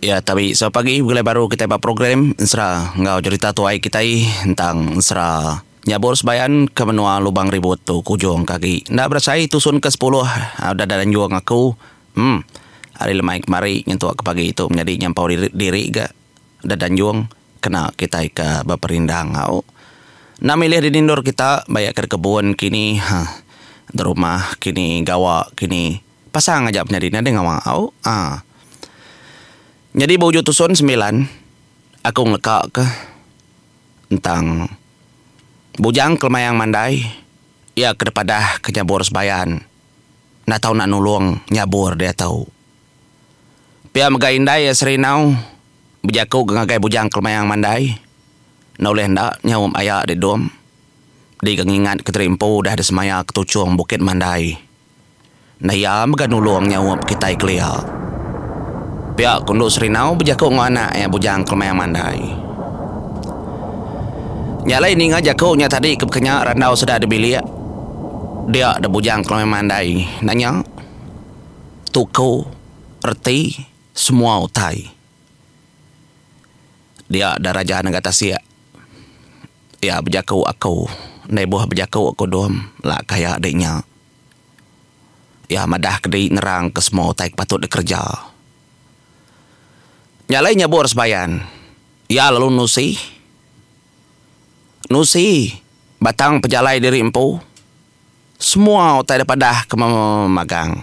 Ya tabi selalu pagi begulai baru kitai ba program ensera enggau jerita tuai kitai entang ensera nyabur sebayan ke menua Lubang Ribut tu kujung ke agi enda berasai tusun ke sepuluh udah da anjung aku emm ari lemai kemari nyentuk ke pagi tu menyadi nyampau diri diri ga udah da anjung kena kitai ke beperindang au enda milih dini endur kita bayak ke da kebun kini ha da rumah kini gawa kini. Pasang aja penyadi nadai ngawa au aa. Nyadi ba ujung tusun sembilan aku ngeleka ka entang Bujang Kelemayang Mandai iya ke dipadah ka nyabur sebayan enda tau nak nulung nyabur diatu. Pia mega indai iya Serinau bejaku ka ngagai Bujang Kelemayang Mandai enda ulih enda nyaup aya di dom di ka ngingat Kenteri Empu udah disemaya ka tuchung Bukit Mandai. Enda iya mega nulung nyaup kitai kelia. Pia ku Endu Serinau bejaku enggau anak iya bujang kelemai mandai. Nya alai ninga jaku nya tadi ke bekenya randau seda di bilik dia da bujang kelemai mandai enda nya tuku reti semua utai dia da raja nengah tasik iya bejaku aku enda ibuh bejaku ku Dom laka iya di nya. Iya madah kedi nerang ke semua utai ke patut dikereja. Nya alai nyebur sebayan, iya lalu nusi nusi batang pejalai diri empu semua utai da padah ke magang.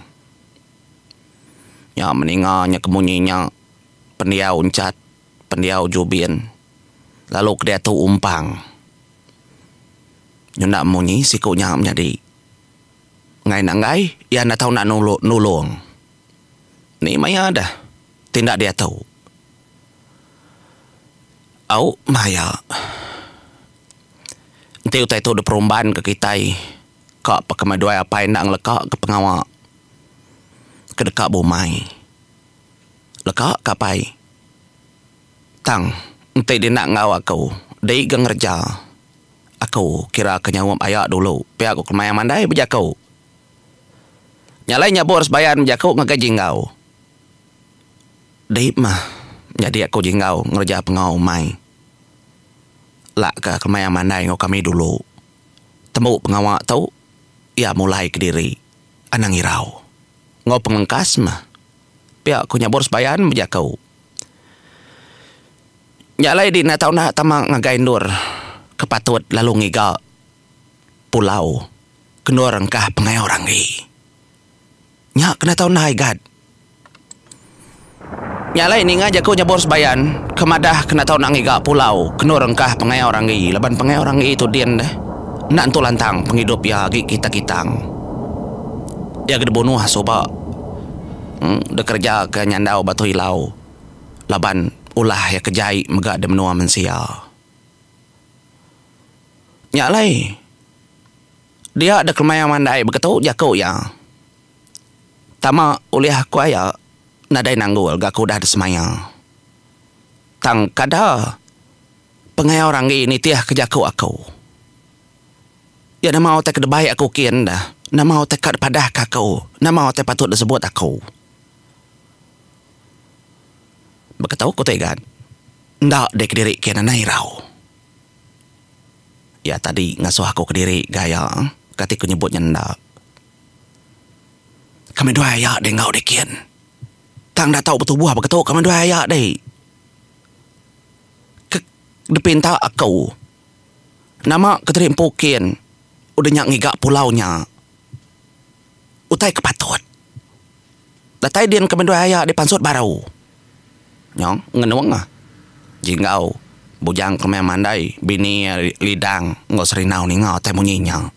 Nya meninga nya ke munyi nya pendiau Enchat. pendiau Jubin lalu ke diatu Umpang. Nyenda munyi siku nya menyadi enggai enda enggai iya enda tau enda nulung. Ni maya deh ti enda diatu. Au maya enti utai tu diperumban ke kitai ka pa ke dua apai enda ngeleka ke pengawa ke deka bumai. Leka ka pai. Tang enti dina enggau aku dei ga ngereja. Aku kira ke nyaup aya dulu pia ku kemaya mandai bejaku. Nya alai nyabur sebayan bejaku ngagai jinggau. Dei mah nyadi aku jinggau ngereja pengau umai. Lak ka kemaya mandai enggau kami dulu. Tembu pengawa tu iya mulai kediri anang irau enggau pengelengkas mah. Pia ku nya Boris Bayan bejaka. Nya alai di enda tau enda tama ngagai endur ke patut lalu ngiga pulau ke endur engkah pengawa orang agi. Nya ke enda tau enda igat. Nya alai ninga jaku nya Boris Bayan ke madah ke enda tau enda ngiga pulau ke endur engkah pengawa orang agi laban pengawa orang agi tu din deh enda nentu lantang pengidup iya agi kita-kitang. Dia ke dibunuh suba. dekereja ke nyandau Batu Ilau laban ulah iya ke jai mega di menua mensia. Nya alai dia dek kemaya mandai beketu jaku iya tama ulih aku aya nadai nanggul ga aku udah disemaya. Tang kada pengawa orang agi nitihka jaku aku. Iya nama utai ke debai aku kin enda? Nama utai ka dipadahka aku? Nama utai patut disebut aku? Baka tu ku Tegan, enda deh kediri kin anai irau. Iya tadi ngasuh aku kediri ga iya, kati ku nyebut nya enda. Kami dua iya deh enggau deh kin. Tang enda tau betubuh baka tu kami dua iya deh. Ke dipinta aku. Nama ke tadi empu kin udah nya ngiga pulau nya utai ke patut. Datai din ke mendoi aya dipansut baru. Nyong ngenung ah Jinggau bujang ke meh mandai bini iya Lidang enggau Serinau ninga utai munyi nya.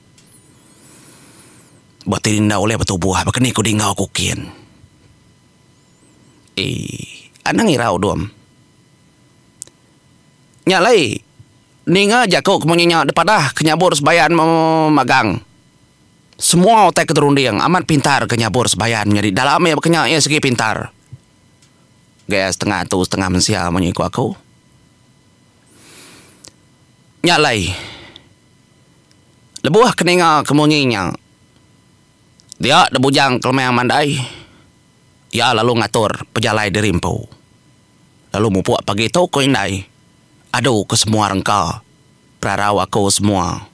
Ba ti enda ulih betubuh baka ni ku Dinggau ku kin. Ee anang irau dom. Nya alai, ninga jaku ke menginya dipadah ke nyabur sebayan magang. Semua utai ke dirunding amat pintar ke nyabur sebayan nyadi dalam iya baka nya iya sigi pintar. Gaya setengah atu setengah mensia munyi ku aku. Nya alai, lebuh ke ninga ke munyi nya, dia da Bujang Kelemang mandai, iya lalu ngatur pejalai diri empu. Lalu mupuk pagi tu ku indai. Adu ku semua rengka. Perarau aku semua.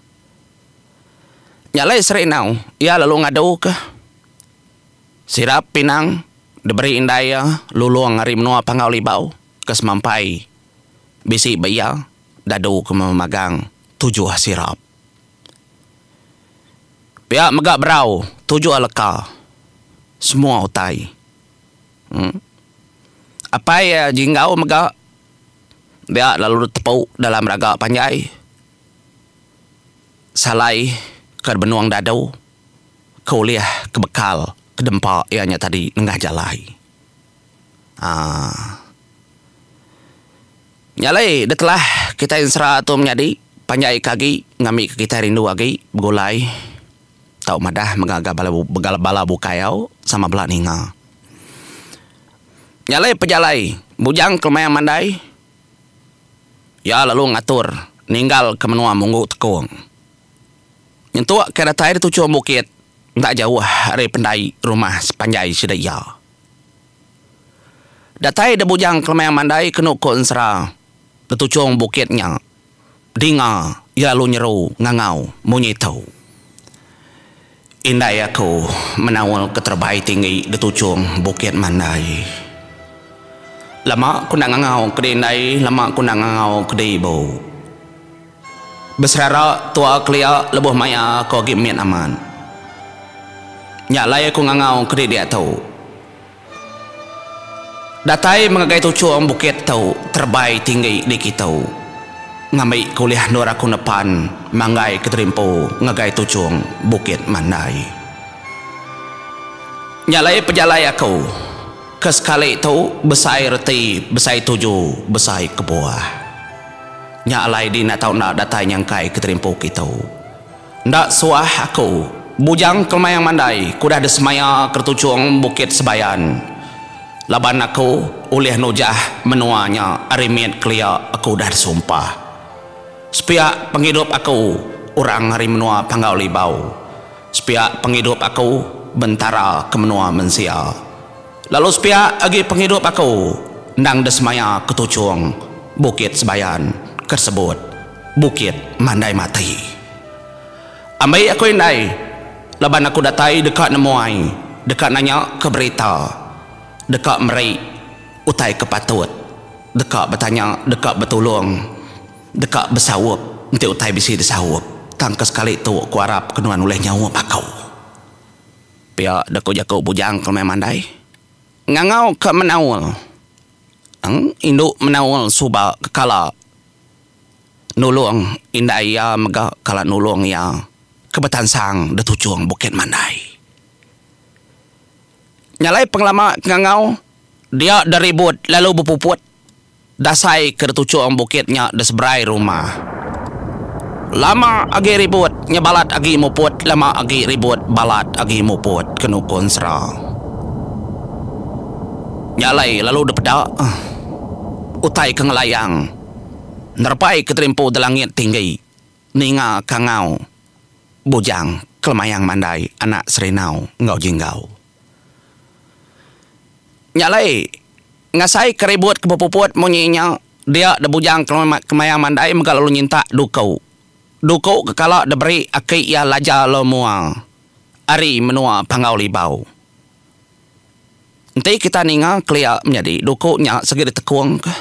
Nya alai seri enau iya lalu ngadu ke sirap pinang diberi indai iya lulong ari menua Panggau Libau ke semampai bisi ba iya dadu ke memagang tujuh sirap. Pia mega berau tujuh leka semua utai. Apai iya Jinggau mega dia lalu ditepu dalam raga panjai salai ke benung dadu ke ulih ke bekal ke dempa iya nya tadi nengah jalai. aaa Nya alai da telah kitai ensera tu menyadi panjai ke agi ngambika kitai rindu agi begulai. Tau madah mega ga bala bukai au sama bela ninga. Nyalai pejalai bujang kelemayan mandai iya lalu ngatur ninggal ke menua munggu tekong. Nyentuk ke datai di tuchung bukit enda jauh ari pendai rumah sepanjai sida iya. Datai da bujang kelemayan mandai kenu ku ensera di tuchung bukit nya. Dinga iya lu nyeru ngangau munyi tu. Indai aku menaul ke terebai tinggi di tuchung bukit mandai. Lama ku enda ngangau ke di indai lama ku enda ngangau ke di ibu. Beserara tua kelia lebuh maya aku agi mit amat. Nya alai aku ngangau ke di diatu. Datai mengagai tuchung bukit tu terebai tinggi di kitu. Ngambi ke ulih endur aku nepan manggai ke terimpu ngagai tuchung bukit mandai. Nya alai pejalai aku ke sekali tu besai reti besai tuju besai kebuah. Nya alai di enda tau enda datai nyangkai ke terimpu kitu. Enda suah aku. Bujang kelemaing mandai ke udah disemaya keretuchung Bukit Sebayan. Laban aku ulih nujah menua nya ari mit kelia aku udah disumpah. Sepiak pengidup aku orang ari menua Panggau Libau. Sepiak pengidup aku bentara ke menua mensia. Lalu sepiak agi pengidup aku endang desemaya ke tuchung Bukit Sebayan ke disebut Bukit Mandai Mati. Ambi aku indai laban aku datai deka nemuai, deka nanya ke berita, deka meri utai ke patut, deka betanya, deka betulung, deka besaup enti utai bisi disaup tang ke sekali tu aku arap ke nuan ulih nyaup aku. Pia da ko jaku bujang ke rumai mandai, ngangau ka menaul eng indu menaul suba ke kala nulong indai iya mega kala nulong iya ke betansang da tuchong bukit mandai. Nya alai pengelama ke ngangau dia da ribut lalu bepuput. Dasai ke dituchung bukit nya diseberai rumah. Lama agi ribut nya balat agi muput lama agi ribut balat agi muput ke nukun sera. Nya alai lalu dipeda utai ke ngelayang nerepai ke terimpu di langit tinggi ninga kangau bujang kelemayang mandai anak Serinau enggau Jinggau. Nya alai Ngasai ke ribut ke bepuput munyi nya dia de bujang kemaya mandai mega lalu nyintak duku. Duku ke kala de beri aki iya laja lalu mua ari menua Panggau Libau. Enti kita ninga kelia menyadi duku nya segi ditekung ke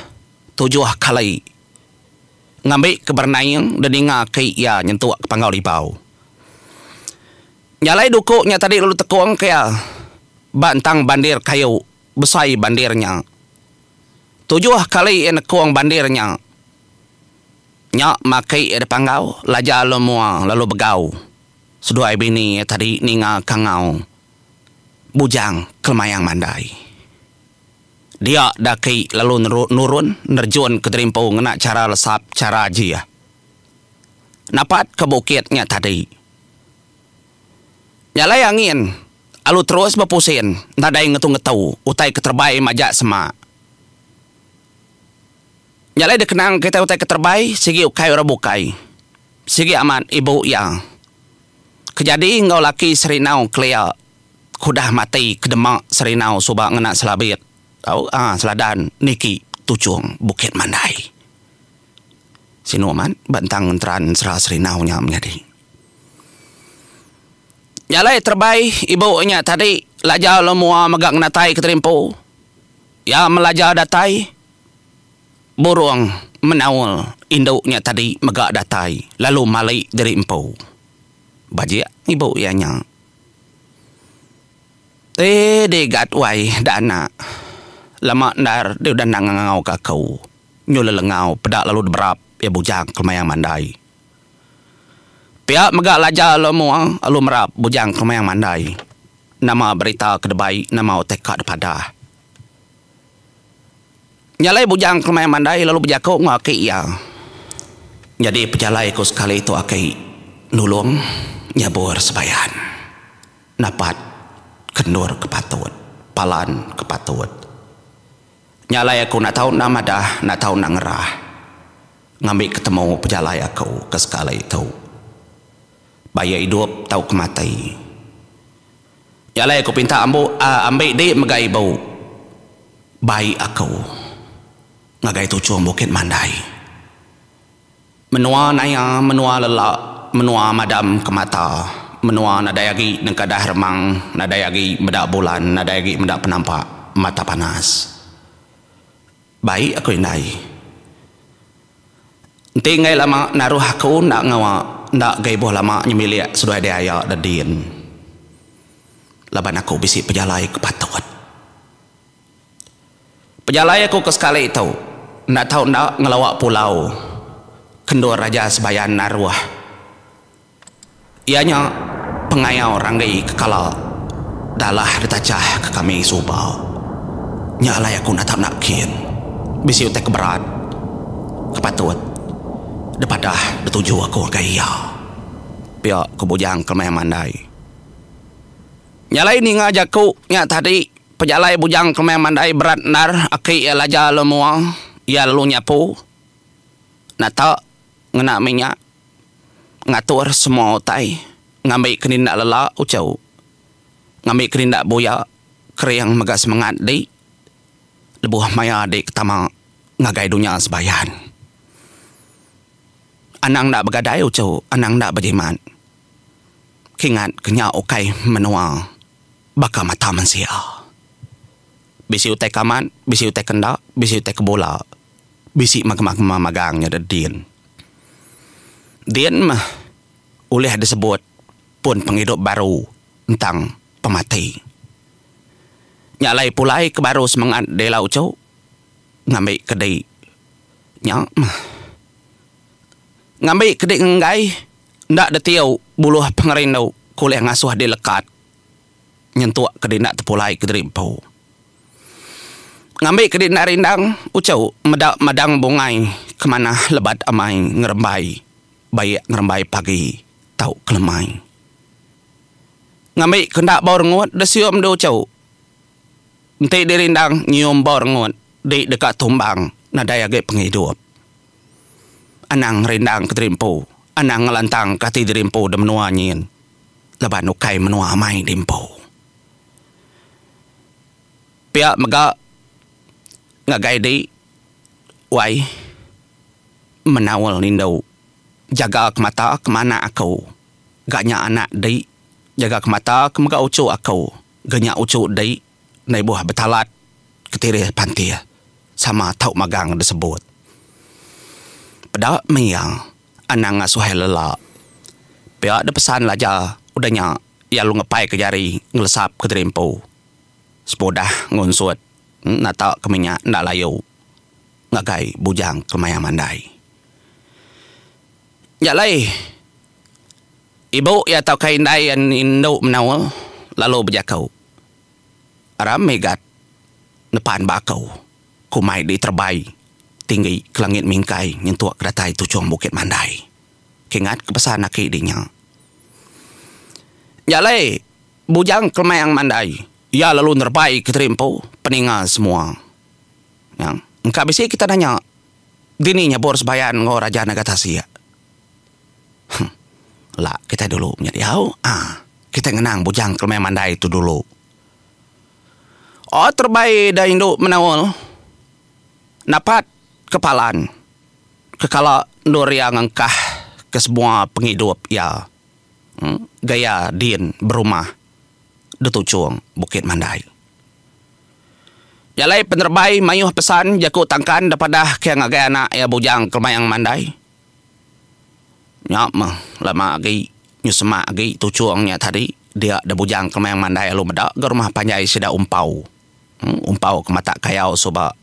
tujuh kali ngambi ke berenaing de ninga aki iya nyentuk ke Panggau Libau. Nya alai duku nya tadi lalu ditekung ke iya ba entang bandir kayu. besai bandir nya. Tujuh kali iya nekung bandir nya. Nya maki iya dipanggau Laja Lun Mua lalu begau seduai bini iya tadi ninga kangau Bujang Kelmayang Mandai. Dia daki lalu nurun nerjun ke Derimpau ngena chara lesap chara jih. Napat ke bukit nya tadi. Nya alai angin alu terus bepusin nadai ngetu-ngetu utai keterebai majak sema. Nya alai dikenang kitai utai keterebai sigi ukai orang bukai. Sigi amat ibu iya ke jadi enggau laki Serinau kelia ke udah mati ke dema Serinau suba ngena selabit tau aaa seladan niki tuchung Bukit Mandai. Sinu amat bentang ngenteran sera Serinau nya menyadi. Nya alai terebai ibu nya tadi laja lalu mua mega ngenatai keterimpu. Iya melaja datai burung menaul indu nya tadi mega datai lalu mali diri empu. Bajik ibu iya nya. Tei digat wai da anak. Lama endar deh udah endang ngangau ka aku. Nyu lelengau peda lalu deberap iya bujang kemayang mandai. Pia mega laja alu mua, alu merap bujang kemang mandai nama berita ke debai nama utai ka dipadah. Nya alai bujang kemang mandai lalu bejaku enggau aki iya. Nyadi pejalai ku sekali tu aki nulung nyabur sebayan. Napat ke endur ke patut, palan ke patut. Nya alai aku enda tau enda madah, enda tau enda ngerah. Ngambi ke temu pejalai aku ke sekali tu. Ba iya idup tauka mati. Nya alai aku pinta ambu ambi di mega ibu bai aku ngagai tuchung bukit mandai. Menua naya menua lela menua madam ke mata menua nadai agi nengkadah remang nadai agi meda bulan nadai agi meda penampak mata panas. Baik aku indai. Enti enggai lama naruh aku enda ngawa enda ga ibuh lama nyemilik seduai diaya da din. Laban aku bisi pejalai ke patut. Pejalai aku ke sekali tu enda tau enda ngelawa pulau ke endur aja sebayan naruh. Iya nya pengayau ranggai ke kala dalah ditachah ke kami suba. Nya alai aku natap nakin bisi utai ke berat ke patut dipadah dituju aku ngagai iya. Pia ku Bujang Kelemayan Mandai. Nya alai ninga jaku nya tadi, pejalai Bujang Kelemayan Mandai berat endar aki iya Laja Lun Mua. Iya lalu nyapu, natak, ngena minyak. ngatur semua utai ngambi keninda lela uchu, ngambi keninda buya kering mega semengat di lebuh maya di ke tama ngagai dunya sebayan. Anang enda begadai uchu, anang enda bejimat keingat ke nya ukai menua baka mata mensia. Bisi utai kamat, bisi utai kenda, bisi utai kebola, bisi makemah-kemah magang nyadi din. Din meh ulih disebut pun pengidup baru entang pemati. Nya alai pulai ke baru semengat Della Ucho ngambi kedi nya meh. Ngambi kedi ngenggai enda ditiu buluh pengerindu ke ulih ngasuh dilekat. nyentuk kedi enda tepulai kediri empu. Ngambi kedi enda rindang, uchu meda madang bungai ke manah lebat amai ngerembai baik ngerembai pagi tau kelemai. Ngambi ke enda bau rengut disium di uchu. Enti dirindang nyium bau rengut di deka tumbang nadai agi pengidup. Anang ngerindang kediri empu, anang ngelantangka ati diri empu di menua nyin. laban ukai menua amai di empu. Pia mega ngagai di wai menaul indu jaga ke mata ke manak aku ga nya anak di jaga ke mata ke mega uchu aku ga nya uchu di. Endai buah betalat ketirih pantih sama tau magang disebut. Peda meh iya anang ngasuh ai lela. Pia deh pesan Laja udah nya iya lalu ngepaika jari ngelesap ke diri empu semudah ngunsut nata ke minyak enda layu ngagai bujang kemaya mandai. Nya alai ibu iya tauka indai iya indu menua lalu bejaku. Aram Megat nepan ba aku, ku mai diterebai tinggi ke langit mingkai nyentuk ke datai tuchung Bukit Mandai. Kingat ke pesan aki di nya. Nya alai Bujang Kelemang Mandai, iya lalu nerebai ke teri empu peninga semua. Nyang engka bisi kita nanya, dini nyebur sebayan enggau Raja Naga Tasik? Huh. La kitai dulu nya diau. Ah. Kitai ngenang bujang kelemai mandai tu dulu. Oh terebai ida indu menaul. Napat ke palan. Kekala endur iya ngengkah ke semua pengidup iya. Huh. Gaya din berumah detuchung Bukit Mandai. Nya alai penerebai mayuh pesan jaku tangkan daripada ke ngagai anak iya bujang kelemayang mandai. Nya meh, lama agi nyu semak agi tuchung nya tadi dia da bujang kemang mandai alu meda ga rumah panjai sida umpau. Umpau ke matak kayau suba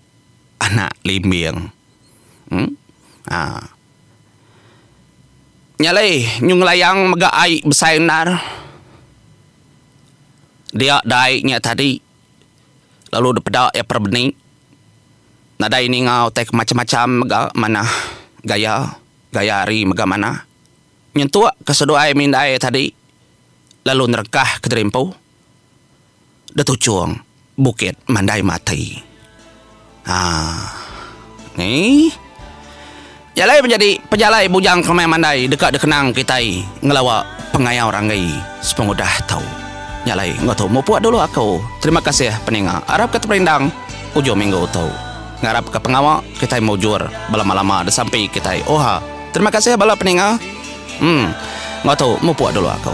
anak limbing. Em aa. Nya alai nyu ngelayang mega ai besai endar. Dia da ai nya tadi lalu dipeda iya perebeni. Nadai ninga utai ke macam-macam mega manah gaya, gaya hari mega manah. Nyentuk ke seduai mindai tadi lalu nerengkah ke diri empu detuchung bukit mandai mati. Haa. Nyi. Jalai menjadi pejalai bujang kemai mandai deka dikenang kitai ngelawa pengayau ranggai sepengudah tu. Nya alai enggau tu mupuk dulu aku. Terima kasih peninga. Arap ke teperindang ujung minggu tu. Ngarap ke pengawa kitai mujur belama-lama disampi kitai. Oha. Terima kasih bala peninga. Em. Enggau tu mupuk dulu aku.